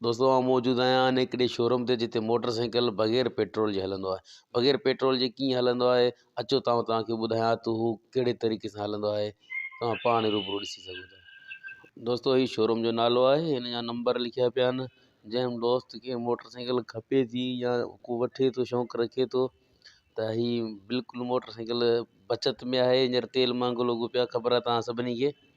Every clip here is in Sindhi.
دوستو آئون موجود آهيان ان هڪڙي شوروم تي جتي موٽر سائيڪل بغير پيٽرول جي هلندو آهي بغير پيٽرول جي ڪيئن هلندو آهي اچو تاؤن توهان کي ٻڌايان ٿو هو ڪهڙي طريقي سان هلندو آهي توهان پاڻ ئي روبرو ڏسي سگهو ٿا دوستو هي شوروم جو نالو آهي هن جا نمبر لکيا پيا آهن جنهن دوست کي موٽر سائيڪل کپي ٿي يا ڪو وٺي ٿو شوق رکي ٿو ته هي بلڪل موٽر سائيڪل بچت ۾ آهي هينئر تيل مهانگو لڳو پيو آهي خبر آهي توهان سڀني کي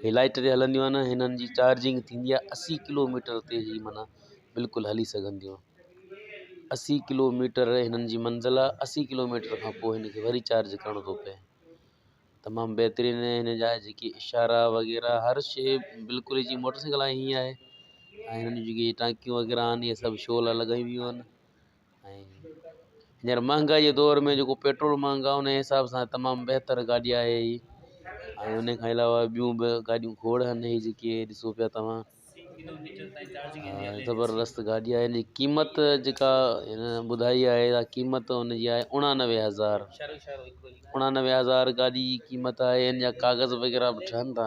هي لائٽ تي هلنديون آهن هنن جي چارجنگ ٿيندي آهي اسي ڪلو ميٽر تي هي معنيٰ بلڪل هلي سگهن ٿيون اسي ڪلو ميٽر هنن جي منزل آهي اسي ڪلو ميٽر کان پوء هن کي وري چارج ڪرڻو ٿو پئي تمام بهترين هن جا جيڪي اشارا وغيره هر شي بلڪل جي موٽر سائيڪل آهي هيئن آهي ۽ هنن جون جيڪي ٽانڪيون وغيره آهن اهي سڀ شو لاء لڳايون ويون آهن ۽ ھينئر مھانگائي جي دور ۾ جيڪو پيٽرول مھانگو آھي ان جي حساب سان تمام بھتر گاڏي آھي ھي ۽ ان کان علاوه ٻيون به گاڏيون کوڙ آھن ھي جيڪي ڏسو پيا توھان زبردست گاڏي آھي ان جي قيمت جيڪا ھن ٻڌائي آھي اھا قيمت ان جي آھي اڻانوي ھزار اڻانوي ھزار گاڏي جي قيمت آھي ان جا ڪاغذ وغيره به ٺھن ٿا